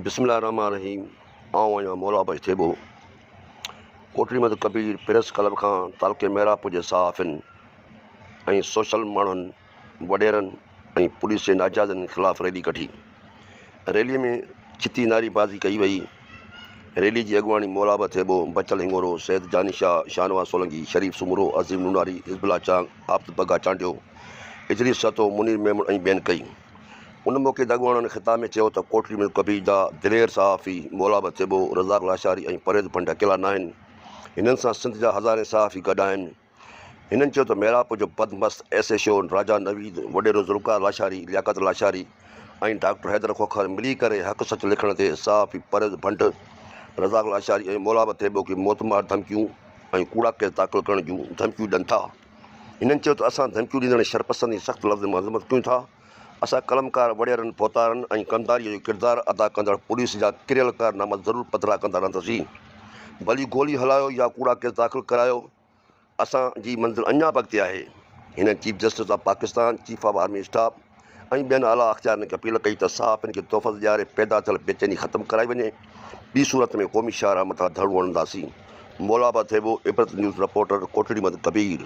بسم الله الرحمٰن الرحيم آئون آهيان مولابه اڄ ٿيٻو ڪوٽڙي مٿ ڪبير پريس ڪلب کان تعلقي مهراپور جي صحافين ۽ سوشل ماڻهن وڏيرن ۽ پوليس جي ناجائزن خلاف ريلي ڪڍي، ريلي ۾ ڇتي نعري بازي ڪئي وئي، ريلي جي اڳواڻي مولابه ٿيٻو، بچل هڱورو، سيد جاني شاهه، شاهنواز سولنگي، شريف سومرو، عظيم نوناري، حزب الله چانگ، عابد بگا چانڊيو، ادريس سهتو، منير ميمڻ ۽ ٻين ڪئي. ان موقعي تي اڳواڻن خطاب ۾ چيو ته ڪوٽڙي ۾ ڪبير جا دلير صحافي مولابه ٿيٻو، رزاق لاشاري ۽ پرويز ڀنڊ اڪيلا ناهن، هنن سان سنڌ جا هزارين صحافي گڏ آهن، هنن چيو ته ميرواهپ جو بدمست S H O Raja Naveed, وڏيرو ذوالفقار لاشاري، لياقت لاشاري ۽ ڊاڪٽر حيدر کوکر ملي ڪري حق سچ لکڻ تي صحافي پرويز ڀنڊ، رزاق لاشاري ۽ مولابه ٿيٻو کي موتمار ڌمڪيون ۽ ڪوڙا ڪيس داخل ڪرڻ جون ڌمڪيون ڏين ٿا. هنن چيو ته اسان ڌمڪيون ڏيندڙن شرپسندن جي سخت لفظن مان مذمت ڪيون ٿا. اسان قلمڪار وڏيرن، پوتارن ۽ ڪنڌاريء جو ڪردار ادا ڪندڙ پوليس جا ڪريل ڪارناما ضرور پڌرا ڪندا رهنداسين. ڀلي گولي هلايو يا ڪوڙا ڪيس داخل ڪرايو، اسان جي منزل اڃا به اڳتي آهي. هنن chief justice of Pakistan, chief of army staff ۽ ٻين اعليٰ اختيارين کي اپيل ڪئي ته صحافين کي تحفظ ڏياري پيدا ٿيل بيچيني ختم ڪرائي وڃي، ٻي صورت ۾ قومي شاهراهه مٿان ڌرڻو هڻنداسين. مولابه ٿيٻو، عبرت نيوز رپورٽر، ڪوٽڙيمند ڪبير.